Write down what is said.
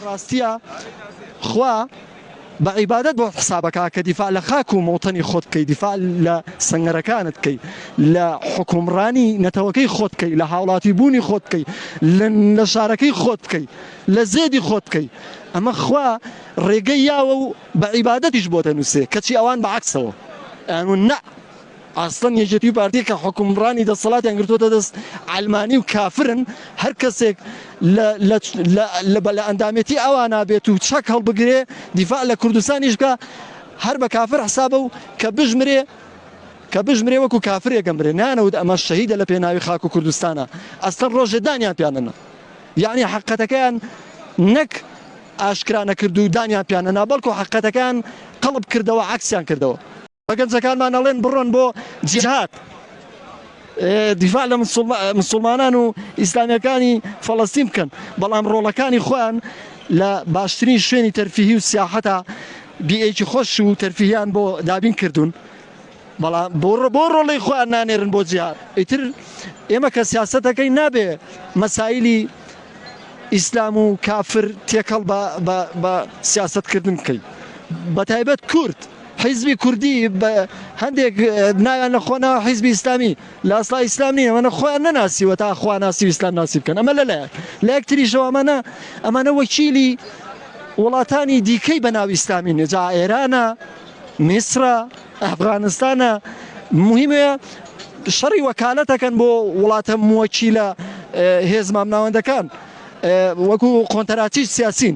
ڕاستیە خوا بە عیبادەت بۆت حسابە کا کە دیفاع لە خاک و مەوتەنی خۆت بکەی دیفاع لە سەنگەرەکانت بکەی لە حوکمڕانی نەتەوەکەی خۆت بکەی لە هاوڵاتی بوونی خۆت بکەی لە لە شارەکەی خۆت بکەی لە زێدی خۆت بکەی ئەمە خوا ڕێگەی یاوە و بە عیبادەتیش بۆ دەنووسێ کەچی ئەوان بە عەکسەوە ئەیان وون نە ئەسڵەن یەکێتی و پارتی کە حوکمڕانی دەسەڵاتیان گرتووەتە دەست عەلمانی و کافرن، هەر کەسێک لە لە لە لە بە لە ئەندامێتی ئەوانا بێت و چەک هەڵبگرێ دیفاع لە کوردستانیش بکا هەر بە کافر حسابە و کە بژمرێ کە بژمرێ وەکوو کافرێک ئەمرێ نانەوت ئەمە شەهیدە لە پێناوی خاک و کوردستانا ئەسڵەن ڕۆژێ دانیان پیان نەنا یەعنی حەقەتەکەیان نەک ئاشکرا نەکرد و دانیان پیان نەنا بەڵکوو حەقەتەکەیان قەڵب کردەوە عەکسیان کردەوە. بە گەنجەکانمان ئەڵێن بڕۆن بۆ جیهاد دیفاع لە مسلمانان و ئیسلامیەکانی فەڵەستین بکەن بەڵام ڕۆڵەکانی خۆیان لە باشترین شوێنی تەرفیهی و سیاحەتە بیئێکی خۆش و تەرفیهیان بۆ دابین کردوون بەڵام بۆ بۆ ڕۆڵی خۆیان نانێرن بۆ جیهاد ئیتر ئێمە کە سیاستەکەی نابێ مەسایلی ئیسلام و کافر تێکەڵ بە سیاستکردن بکەین بە تایبەت کورد حیزبی کوردی بە هەندێک ناویان لە خۆ ناوە حیزبی ئیسلامی لە ئەسڵا ئیسلام نییە ئەمانە خۆیان نەناسیوە تا خوا ناسی و ئیسلام ناسی بکەن ئەمە لەلایەک لە یەک تریشەوە ئەمانە ئەمانە وەکیلی وڵاتانی دیکەی بە ناو ئیسلامی نێ جا ئێرانە میسرە ئەفغانستانە مهمەیە شەڕی وەکالەتەکەن بۆ وڵاتە موەکیلە هێز مامناوەندەکان وەکو قۆنتەراتیش سیاسین